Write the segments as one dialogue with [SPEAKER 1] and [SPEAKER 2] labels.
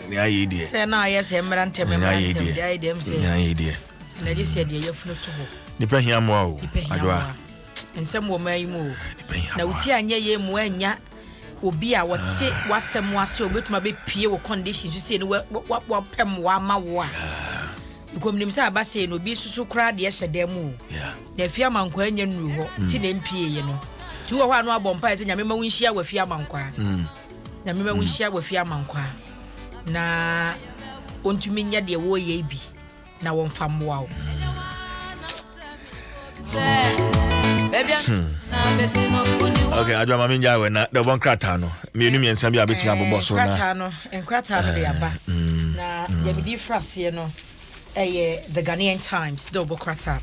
[SPEAKER 1] Nya yei deɛ. Sɛ na ayɛ sɛ mmra ntɛm mmra
[SPEAKER 2] ntɛm. Nya yei deɛ. Deɛ ayɛ dɛm sɛ. Nya
[SPEAKER 1] yei deɛ. Ɛna gye sɛ deɛ
[SPEAKER 2] yafunu to hɔ. Nipa hia mmoa o.
[SPEAKER 1] Nipa hia mmoa. Nsɛm wɔ
[SPEAKER 2] maa yi mu o. Nipa hia mmoa. Na wotie anyɛ yei mu anya obi a wɔte ah. wasɛm ase obetumi abɛpie wɔ condition so sie ne wapɛ mmoa ama wo a nkɔmnim sɛ aba sei no obi susu koraa deɛ hyɛ dan mu o na afie amankwa anya nnuru hɔ nti mm. na mpieeɛ no nti wɔ hɔ a no abɔ mpae sɛ nyame ma wo nhyia wɔ afie amankwa mm. Nyame ma wonhyia mm. wɔ fie amankwaa na wɔntumi nyɛ deɛ wɔreyɛ bi na wɔmfa mmoa wo
[SPEAKER 1] hmm. ok adwa ma mengya wɛ na dɛbɔ nkrataa no mmienu mmiɛnsa bi a bɛtumi eh, abobɔ so nkrataa no nkrataa
[SPEAKER 2] no de aba eh, hmm, na hmm. yɛmedi fra aseɛ no ɛyɛ the ghanaian times dɛ wɔbɔ krataa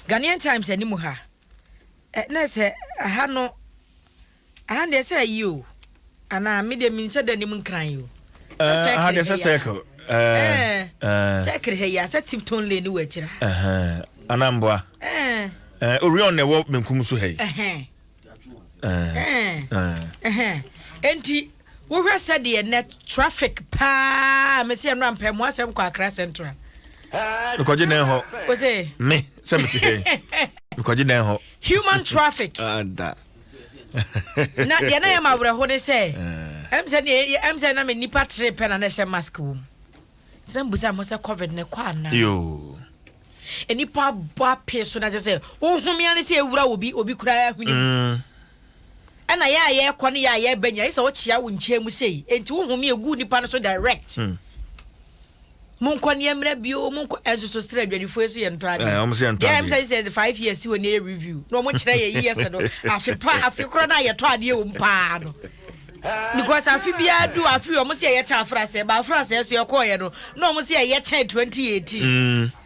[SPEAKER 2] ghanaian times anim ha na sɛ ha no, aha no deɛ sɛ ayi o, anaa me deɛ menhyɛ da nim nkran o. Sɛ eh, aha deɛ
[SPEAKER 1] sɛ circle.
[SPEAKER 2] Eh, circle ha yi a, sɛ Tipton Lane wɔ akyiri ha. Anamboa.
[SPEAKER 1] Orion na ɛwɔ benkum so ha yi.
[SPEAKER 2] Enti Wohwɛ sɛdeɛ nnɛ traffic paa mese ɛnora mpɛ mo asɛm kɔ Accra Central. Mekɔgye
[SPEAKER 1] dan hɔ. Ose. Me
[SPEAKER 2] sɛ mete hɛ.
[SPEAKER 1] Mekɔgye dan hɔ. Human traffic.
[SPEAKER 2] Ada. Na deɛ na yɛ ma awerɛho ne sɛ eh. ɛm sɛ deɛ ɛm sɛ na me nipa tere pɛ na na ɛhyɛ mask wɔ mu. Tena mbusa mo sɛ covid ne kɔ anaa. Yoo.
[SPEAKER 1] Nipa
[SPEAKER 2] bɔ apee so na kyɛ sɛ wohomea ne sɛ ewura obi obi koraa ahwene mu. Mm. Ɛna yɛ a yɛkɔ ne yɛ a yɛba nyina yɛsɛ ɔkyea wo nkyɛn mu sei enti wo home ɛgu nipa no so direct. Hmm. Monkɔ ne ɛmmerɛ bio monkɔ ɛnso so stra adwadifoɔ yi so yɛ ntɔ adeɛ. Ɛɛ yɛ ntɔ adeɛ. Yɛ
[SPEAKER 1] sɛ yɛ five years
[SPEAKER 2] wɔ ne yɛ review na wɔn kyerɛ yɛ years no afe pa afe korɔ na yɛ tɔ adeɛ wɔm paa no. Because afe biara du afe wɔn sɛ yɛ kyɛ afra sɛ ba afra sɛ so yɛ kɔɔ yɛ no na wɔn sɛ yɛ kyɛn twenty eighteen. Hmm.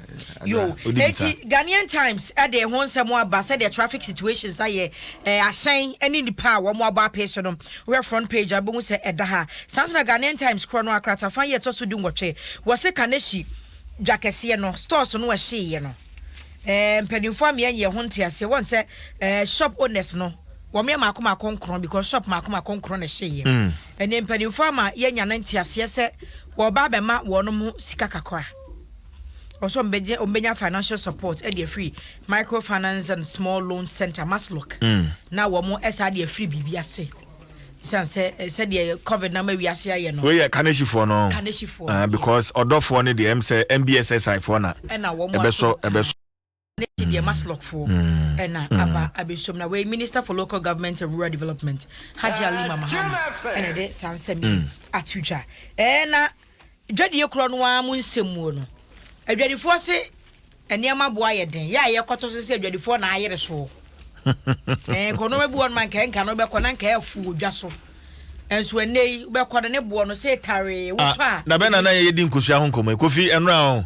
[SPEAKER 2] Yo, enti Ghanaian Times de ho nsɛm aba sɛdeɛ traffic situations ayɛ, eh, ahyɛn ne nnipa a wɔn abɔ apee so no, wohwɛ front page a wobɛhu sɛ ɛda ha. Saa nso na Ghanaian Times korɔ no ara kratafa yi a ɛtɔ so du nwɔtwe, wɔse Kanehyi dwa kɛseɛ no, stores no ɛhyeeɛ no, eh, mpanimfoɔ ameɛ nyɛ ho nteaseɛ, wɔn sɛ eh, shop owners no, wɔn yɛ maako maako nkorɔ because shop maako maako nkorɔ na ɛhyeeɛ. Ɛneɛ mpanimfoɔ ama yɛanya no nteaseɛ sɛ wɔreba abɛma wɔn mo sika kakra. Ɔwɔ sɛ ɔmbɛgye ɔmbɛnya financial support ɛde afiri Microfinance and Small Loan Centre, MASLOC, mm. na wɔn ɛsa ɛde afiri biribi ase. Sisan sɛ sɛdeɛ covid na ma wiase ayɛ no. Woyɛ kanehyifoɔ no.
[SPEAKER 1] Kanehyifoɔ. Uh, because ɔdɔfoɔ no deɛ ɛm sɛ MBSSI foɔ na ɛbɛsɔ
[SPEAKER 2] ɛbɛsɔ.
[SPEAKER 1] n'akyi
[SPEAKER 2] deɛ maslɔkfoɔ ɛna mm. mm. aba abɛsom na wei minister for local government and rural development hagye alima mahama ɛna ɛde saa nsɛm yi mm. ato dwa ɛna dwadie korɔ no ara mu nsɛm muo no adwadifoɔ se nneɛma boa yɛ den yɛ a yɛkɔto so sɛ adwadifoɔ na ayere soɔ ɛɛ kɔnɔma bi wɔn ma nka nka no bɛkɔ na nka ɛfu odwa so nso ɛnɛ yi bɛkɔ no ne boɔ no sɛ taree wotɔ a. Ah, na bɛn na na yɛ di
[SPEAKER 1] nkosua ho nkɔmɔ kofi ɛnura ho.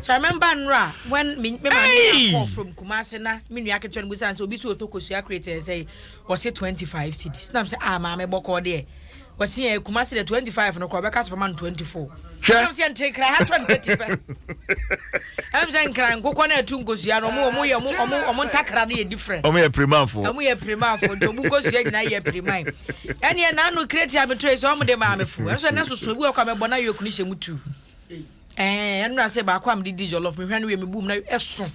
[SPEAKER 2] So I remember nnora when me me maame nya call from Kumasi na me nua ketewa no busa no sɛ obi so ɔtɔ kosua crate ɛyɛ sɛ wɔse twenty five cedis nam sɛ ah maame bɔkɔɔ deɛ wɔse ɛ Kumasi deɛ twenty five no kora wɔbɛka sɛ fama no twenty four Hwɛ. nam sɛ nte nkran ha twenty thirty pɛ ɛm sɛ nkran nkokɔ no ɛto nkosua no ɔmo ɔmo yɛ ɔmo ɔmo ɔmo ntakra no yɛ different Ɔmo yɛ pirimanfoɔ. ɔmo
[SPEAKER 1] yɛ pirimanfoɔ nti ɔmo
[SPEAKER 2] nkosua nyinaa yɛ piriman ɛneɛ naano crate a metɔe sɛ ɔmo de maa me fo ɛnso ɛnɛ soso ebi wɔ kɔ a mɛbɔ na yɔk no hyɛ mu tu Ɛɛ ɛnora sɛ baako a mede di jollof mehwɛ no wie mebu mu na ɛso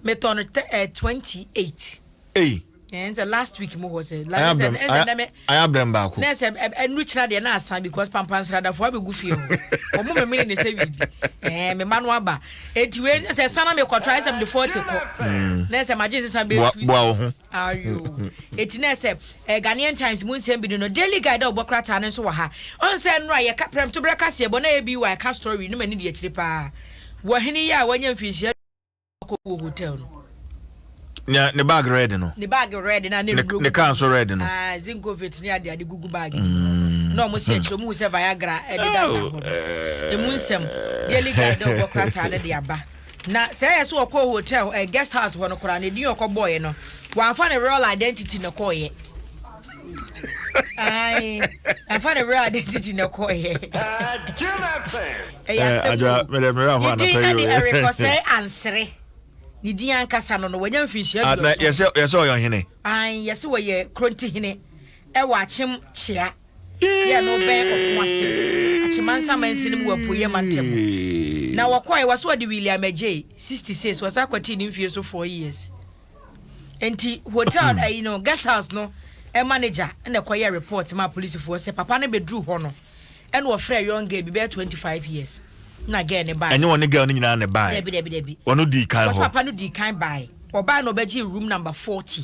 [SPEAKER 2] metɔ no tɛ ɛɛ twenty eight. Ei. Ɛɛ nsɛ last week mo hɔ sɛ. Ayɛ abrɛm ayɛ ayɛ
[SPEAKER 1] abrɛm baako. Na ɛsɛ ɛnu kyina
[SPEAKER 2] deɛ na asa because pampansradafoɔ abɛgu fie hɔ wɔn memene ne sɛ wiibi ɛɛ mema no aba eti wei sɛ sana mekɔtɔ ayɛ sɛ mede forty kɔ na ɛsɛ magye nsesa bɛyɛ two six. Ayo. Eti na ɛsɛ eh, Ghanaian Times mu nsɛm bi ni no, Daily Guide a wɔbɔ krataa no nso wɔ ha. Ɔn sɛ nnora a yɛka prɛmtoberɛ kaseɛbɔ na ABY ka story no ma no di akyire paa wɔ hene yi a wanya mfinhyia aduonu a ɔkɔ wɔ hotel no. Nea
[SPEAKER 1] ne bag red no. Ne bag red na ne
[SPEAKER 2] nnuro. Ne car nso red
[SPEAKER 1] no. Ah, Zinkovit ne ade
[SPEAKER 2] ade gugu bag no. Mm. Na wɔn si akyire wɔn hu sɛ Viagra ɛdeda da hɔ. Emu nsɛm Daily Guide a wɔbɔ krataa no de aba. Na sɛ ɛyɛ sɛ ɔkɔɔ hotel ɛɛ guest house hɔ no koraa no edin a ɔkɔbɔɔeɛ no wamfa ne real identity na ɛkɔɔeɛ. Ae, wamfa
[SPEAKER 1] ne real identity na ɛkɔɔeɛ. Ɛyɛ asɛm o. Ne din ɛde Eric Osei Ansere.
[SPEAKER 2] Ne din ankasa no no wanya mfinhyia aduɔson. Na yɛsɛ ɔyɛ ɔhene.
[SPEAKER 1] Ae, yɛsɛ ɔyɛ
[SPEAKER 2] Krontihene ɛwɔ Akyem Kyea. yɛɛ no bɛn ɔfõ ase Akyemansa mansini no mu wɔ Apueeɛ mantam hɔ. Na wɔkɔɔe, wɔse wɔde William agyei, 66, wɔsan kɔtee ne mfie so four years. Enti hotel ayi no, guest house no manager na ɛkɔyɛɛ report maa polisifoɔ sɛ papa no bɛduruu hɔ no na ɔfrɛɛ young girl bi bɛyɛ 25 years na girl no baeɛ. Ɛnyɛ wɔne girl no nyinaa na ɛbaeɛ?
[SPEAKER 1] Dabi, dabi, dabi. Wɔno dii
[SPEAKER 2] kan Wɔse hɔ. papa
[SPEAKER 1] no dii kan baeɛ,
[SPEAKER 2] ɔbaeɛ na ɔbɛgyee room number 40.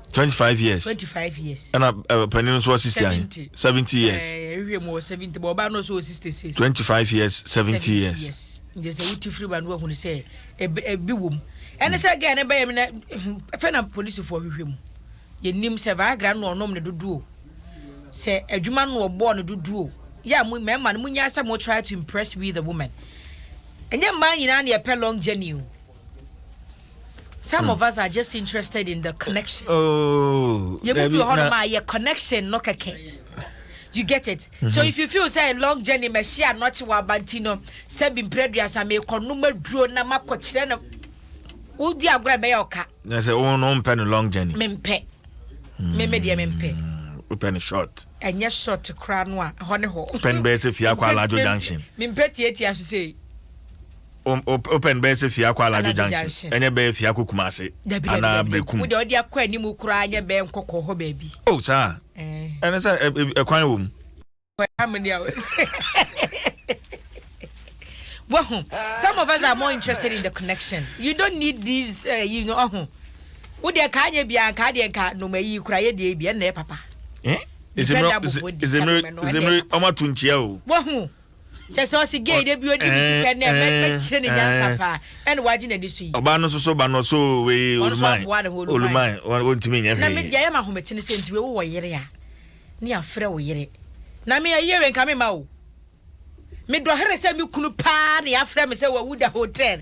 [SPEAKER 2] twenty five years
[SPEAKER 1] twenty
[SPEAKER 2] five years ɛna eh, panin nso
[SPEAKER 1] wɔ sixty ahe seventy years ɛhwɛ eh, mu wɔ seventy bɔ ɔbaa
[SPEAKER 2] no nso wɔ sixty six twenty five years
[SPEAKER 1] seventy years nkyɛn sɛ wuti
[SPEAKER 2] firi ba no wahunu sɛ ebi ebi wɔ mu ɛne sɛ gɛɛ ne bɛyɛ mi na fɛn na polisifoɔ hwehwɛ mu yɛ nim sɛ viagra no ɔnom ne dodoɔ sɛ adwuma no ɔbɔɔ ne dodoɔ yɛ a mo mmarima no mo nya sɛ mo try to impress with the woman ɛnyɛ mmaa nyinaa na yɛpɛ long journey o. some of us are just interested in the connection oh
[SPEAKER 1] yɛ mu bi wɔ hɔ nom a
[SPEAKER 2] yɛ connection no kɛkɛ you get it mm-hmm. so if you feel say long journey mɛhyɛ anɔkye wɔ abanti no sɛ bi mpere duasa mekɔ nom aduro na makɔ kyerɛ no wodi agorɔ ɛbɛyɛ ɔka na sɛ wo no mpɛ
[SPEAKER 1] no long journey mempɛ
[SPEAKER 2] meme deɛ mempɛ wopɛ no short
[SPEAKER 1] ɛnyɛ short
[SPEAKER 2] koraa no a hɔ ne hɔ pɛ no bɛyɛ sɛ fie akɔ
[SPEAKER 1] alajo junction mempɛ tiatia so
[SPEAKER 2] sei Um,
[SPEAKER 1] op, open bɛyɛ sɛ fie akɔ Alajo junction ɛnyɛ bɛyɛ fie akɔ Kumase anaa Bekum. Wode ɔde akɔ anim koraa nyɛ bɛyɛ nkɔkɔ hɔ baabi. O oh, saa eh. ɛne sɛ ɛkwan wɔ mu.
[SPEAKER 2] Wahu, some of us are more interested in the connection. You don't need these, uh, you know, ɔho. Wode ɛka anyɛ biara nka adeɛ nka noma yi kora yɛ deɛ bi ɛnna yɛ papa. Eh? Zemre, zemre, zemre, ɔma tuntia o. Wahu. kyɛ sɛ ɔsi gay de bi odi ne sika nɛ mɛ mɛ kyerɛ ne nyansa paa ɛna wagye na di so yi. ɔbaa no soso ba no so wei oluman oluman wɔntumi nyɛ hwee. na mi deɛ ɛyɛ ma ahomete ne sɛ nti wei wo wɔ yere a ne afrɛ wo yere na mi ɛyɛ wei nka mi ma o mi dɔ here sɛ mi kunu paa ne afrɛ mi sɛ wawu da hotel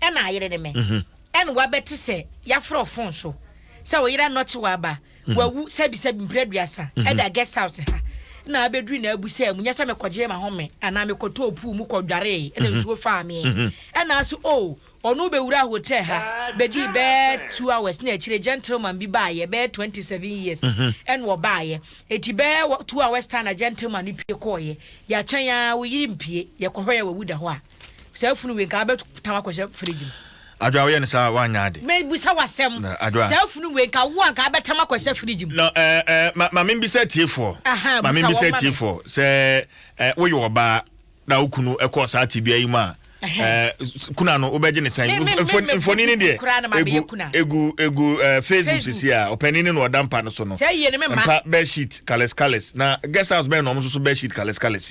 [SPEAKER 2] Ɛna ayere ne me. Ɛna wabɛte sɛ yɛafrɛ fon so sɛ wo yere anɔkye waba, wawu sɛbisɛbi mprɛ aduasa ɛda guest house ha na abɛduru n'abusaa mu, nyɛ sɛ mekɔgyee m'ahome anaa mekɔtɔɔ pool mu kɔdwaree ɛna nsuo faa me. Ɛna ase oo, ɔne wo bɛwuraa hotel ha bɛdii bɛyɛ two hours na akyire gentleman bi baeɛ bɛyɛ twenty seven years ɛna ɔbaeɛ enti bɛyɛ two hours time na gentleman no pue kɔeɛ. Yɛatwɛn ara wo yere mpue, yɛkɔ hɔ yɛ wawu da hɔ a. Saa funu wei nka abɛto tam akɔhyɛ fridge mu. Adwoa woyɛ ne saa
[SPEAKER 1] woanyɛ ade. Me bisa wo asɛm.
[SPEAKER 2] Adwoa. Saa funu wei nka wo anka abɛtam akɔhyɛ fridge mu. No ɛɛ eh,
[SPEAKER 1] eh, ma, ma me mbisa atiefoɔ. Aha, ma me mbisa atiefoɔ. Sɛ eh, woyɛ ɔbaa na wo kunu ɛkɔɔ saa tebea yi mu a, eh, kuna no wobɛgye ne sɛn? Mfoni ne deɛ egu, egu, egu eh, Facebook sisi a ɔpanin ne na ɔda mpa no so no. Mpa bed sheet kales kales na guest house bɛn na ɔmo soso bed sheet kales kales.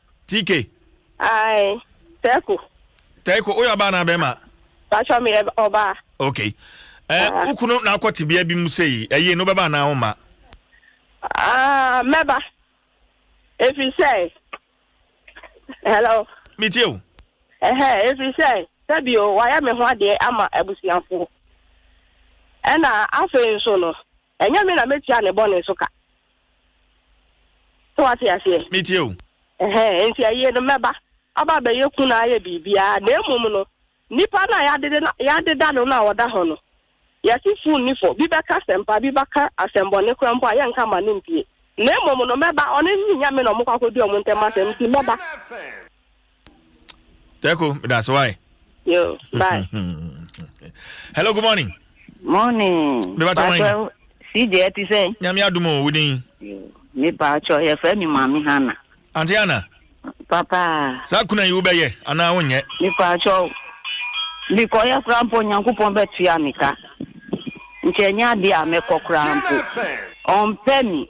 [SPEAKER 1] TK. Ae,
[SPEAKER 3] Teiko. Teiko, woyɛ ɔbaa anaa bɛrima?
[SPEAKER 1] Patrɔ, meyɛ
[SPEAKER 3] ɔbaa. Ok. Eh,
[SPEAKER 1] ah. wo kunu na akɔ tebea bi mu sei, ɛyie no wobɛba anaa womma? Ah,
[SPEAKER 3] mɛba. Ɛfiri sɛ, hello? Metie o.
[SPEAKER 1] Ɛhɛ, ɛfiri
[SPEAKER 3] sɛ, sɛbio wayɛ me ho adeɛ ama abusuafoɔ. Ɛna afei nso no, Ɛnyɛ me na mɛtua ne bɔne so ka. So wate aseɛ? Metie o.
[SPEAKER 1] Ɛhɛn, enti ayie
[SPEAKER 3] no, mɛba aba abɛyɛ kunu na ayɛ biribiara, na mmom no, nipa no a yɛadede no, yɛadeda no no a ɔda hɔ no, yɛte fuu nni fɔ, bi bɛka asɛmpa, bi bɛka asɛmbɔne koraa mpo a, yɛnka mma no mpie. Na mmom no, mɛba, ɔno ne Nyame na wɔkɔ akɔdi wɔn ntam asɛm, enti mɛba.
[SPEAKER 1] Teko, that's why. Yo,
[SPEAKER 3] bye.
[SPEAKER 1] Hello, good morning. Morning.
[SPEAKER 3] Me bato wine. CJ ti sɛ. Nyame adumo wudin.
[SPEAKER 1] Me
[SPEAKER 3] bato yɛ fɛ mi maami Hana. Auntie Hana.
[SPEAKER 1] Papa.
[SPEAKER 3] Saa kuna yi wobɛyɛ
[SPEAKER 1] anaa wonyɛ? Me bato.
[SPEAKER 3] Me kɔ yɛ kura mpo Nyankopɔn bɛ tua me ka. Nkyɛ nya de a me kɔ kura mpo. Ɔmpɛ mi.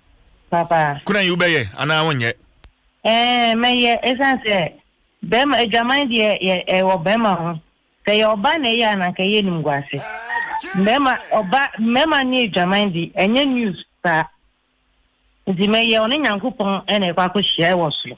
[SPEAKER 4] Papa. Kuna yi wobɛyɛ
[SPEAKER 1] anaa wonyɛ? Ɛɛ
[SPEAKER 4] mɛyɛ ɛsiane sɛ bɛrima adwaman deɛ yɛ ɛwɔ bɛrima ho sɛ yɛ ɔba na ɛyɛ a na nka yɛ nim guase mɛrima ɔba mɛrima ne adwaman de ɛnyɛ news saa nti mɛyɛ ɔne nyankopɔn ɛna ɛkɔ akɔhyia ɛwɔ soro.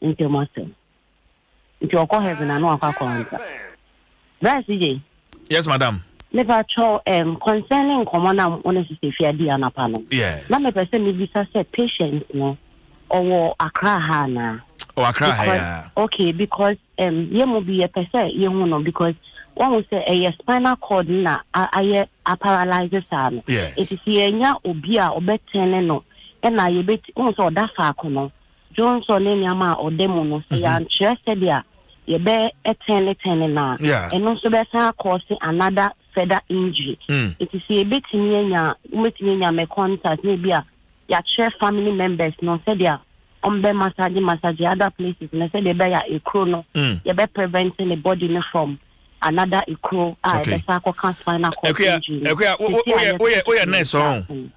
[SPEAKER 4] ntam asɛm nti ɔkɔ heaven a na wakɔ akɔ ansa bra si gye yes
[SPEAKER 1] madam mepa kyɛw
[SPEAKER 4] um, concerning nkɔmmɔ no a wo ne sisɛ fi adi anapa no yes. na mepɛ sɛ
[SPEAKER 1] mebisa
[SPEAKER 4] sɛ patient no ɔwɔ akra ha anaa ɔwɔ akra ha ya
[SPEAKER 1] okay because
[SPEAKER 4] um, yɛ mu bi yɛpɛ sɛ yɛhu no because wɔn sɛ ɛyɛ spinal cord na ayɛ aparalyze saa no ɛsisi yɛnya obi a ɔbɛtɛn ne no ɛna yɛbɛti wɔn sɛ ɔda faako no Dwonsɔ ne nneɛma a ɔda mu no, sɛ yɛankyerɛ sɛdeɛ yɛbɛtɛn ne tɛn no no a, ɛno nso bɛsan akɔɔse another further injury. Nti sɛ yɛbɛtumi anya, wobɛtumi anya me contact na ebi a yɛakyerɛ family members no sɛdeɛ wɔbɛ massage massage other places no sɛdeɛ ɛbɛyɛ a ekuro no yɛbɛ prevent ne body no from another ekuro a ɛbɛsan akɔka spinal cord injury no.
[SPEAKER 1] Akuya, woyɛ nurse ɔn?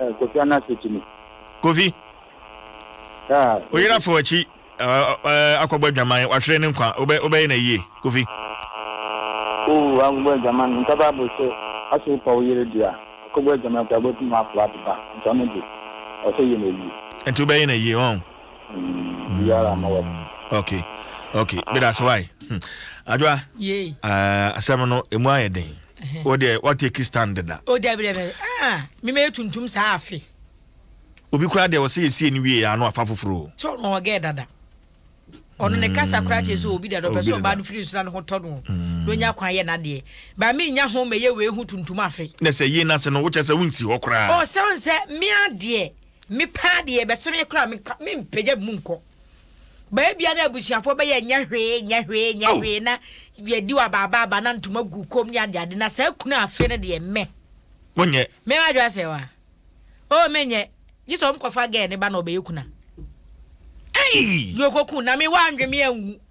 [SPEAKER 1] Eh, Kofi
[SPEAKER 5] Anase Tumi. Kofi,
[SPEAKER 1] Ah, wo yere afa w'akyi eh, akɔbɔ adwaman, wahwere ne nkwa, wobɛ, wobɛyɛ na yie, Kofi. Oh, akɔbɔ
[SPEAKER 5] adwaman, nka Bible sɛ, ɔsɛ wopa wo yere deɛ a, akɔbɔ adwaman koraa wobɛtumi afa ade ba, nti ɔno deɛ, ɔsɛ yɛ na yie. Nti wobɛyɛ na yie,
[SPEAKER 1] ɔn? Mm, biara
[SPEAKER 5] ma wɔ. Mm, ok,
[SPEAKER 1] ok, meda ase, why? Hmm. Adwoa, Yei. eh, asɛm no, ɛmu ayɛ den. wo deɛ wa take stand deda. o dabi dabi ah
[SPEAKER 2] mi ma yɛ tuntum saa afe. obi
[SPEAKER 1] koraa deɛ ɔsɛ yɛ sie ni wie yɛ ano afa foforɔ o. sɛ ɔno ɔgɛ dada
[SPEAKER 2] ɔno ne kasa koraa kyerɛ sɛ obi dada ɔpɛ sɛ ɔbaa no firi nsona no ho tɔ no mm. na onya kwan yɛ n'adeɛ ba mi nya ho mɛyɛ wei ho tuntum afe. na sɛ yie n'ase no wokyɛ
[SPEAKER 1] sɛ wonsi hɔ koraa. ɔsɛ ɔn sɛ mi
[SPEAKER 2] adeɛ mi paa deɛ bɛsɛ mi koraa mi mpagya mu nkɔ. Baa biara abusuafoɔ bɛyɛ nyɛ hwee nyɛ hwee nyɛ hwee na yɛdi wɔ abaabaaba na ntoma gu kom ne adeade na saa kunu afe no deɛ mɛ. Monyɛ. Mɛ
[SPEAKER 1] wadwo asɛ wa.
[SPEAKER 2] O oh, menyɛ. Gye sɛ ɔmkɔfa gɛɛ ne ba na ɔbɛyɛ kuna. Ei! Deɛ ɔkɔku na me wandwe me anwu.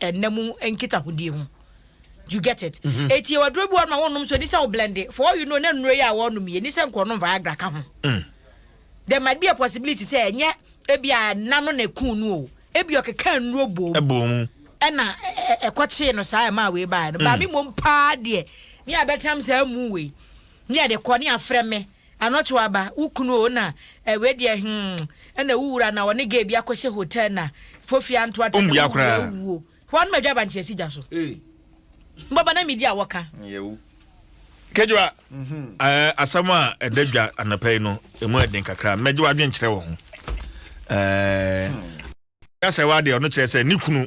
[SPEAKER 2] ɛnna mu nkitahodie ho you get it mm-hmm. eti yɛ waduro bi wɔn ma wɔn nom so ɛni sɛ ɔblɛnde for all you know ne nnuro yi a wɔn nom yɛ ɛni sɛ nkɔnom viagra ka ho mm. there might be a possibility sɛ ɛnyɛ ebi a nna no na ekun no o ebi ɔkeka nnuro bom ɛbom ɛna ɛkɔkyee no saa ɛma awei baa no mm. baami mom paa deɛ ne abɛtram saa mu wei ne ɛde kɔ ne afrɛ me. Anɔto aba wo kunu oo na eh wei deɛ hmm ɛna wo wura na ɔne gay bi akɔhyɛ hotel na fofie anto atɛm na wo wura awuo hwan ma dwa bankye asi dwa so mbɔba na midi a wɔka.
[SPEAKER 1] Kejewa ɛɛ asɛm a ɛda dwa anɔpa yi no emu ɛden kakra mɛgye w'adwen kyerɛ wɔ ho ɛɛ. Sɛ wa deɛ ɔno kyerɛ sɛ ne kunu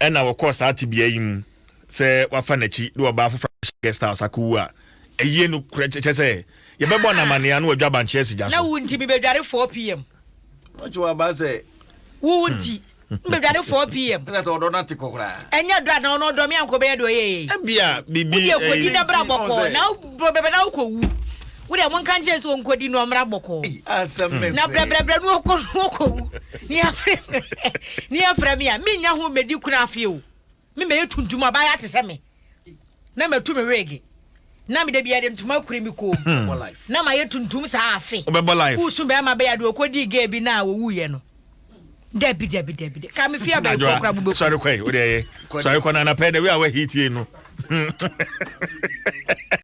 [SPEAKER 1] ɛna wɔkɔɔ saa tebea yi mu sɛ wafa n'akyi de ɔbaa foforɔ ahyɛ guest house akɔwu a ɛyie no korɛ kyɛ sɛ yɛbɛbɔ no amanneɛ ano wadwa abankyeɛ asi gya so. na wo nti mebɛdware 4 pm
[SPEAKER 2] ɔkye wɔ aba
[SPEAKER 6] sɛ wo wo nti
[SPEAKER 2] mbɛdware 4 pm ɛsɛ sɛ ɔdɔ no ate kɔ
[SPEAKER 6] koraa ɛnyɛ dɔ anaa ɔno ɔdɔ
[SPEAKER 2] me ankɔ bɛyɛ deɛ ɔyɛyɛ yi wode
[SPEAKER 1] akɔdi na bra
[SPEAKER 2] bɔkɔɔ na bɛbɛ na wokɔwu Wo deɛ monka nkyerɛ no sɛ ɔnkɔdi na ɔmmra bɔkɔɔ. Na
[SPEAKER 6] brɛbrɛbrɛ no
[SPEAKER 2] ɔkɔ no ɔkɔwu. Ne afrɛ me ne afrɛ me a mennya ho mmɛdi kunu afeɛ o. Me mɛyɛ tuntum abaayewa te sɛ me. Na matu me weege. Na me da biara de ntoma akuri me kɔn mu. Na mayɛ tuntum saa afe. Wosu bɛrima
[SPEAKER 1] bɛyɛ adeɛ
[SPEAKER 2] ɔkɔdii gay bi no a ɔwuiɛ no. Dabi dabi dabi dabi. Ka me fie abayifoɔ koraa mobɛku. Sɔre kɔ yi, wo deɛ ɛyɛ.
[SPEAKER 1] Sɔre kɔ na anapɛ dɛ wei a wahitie no.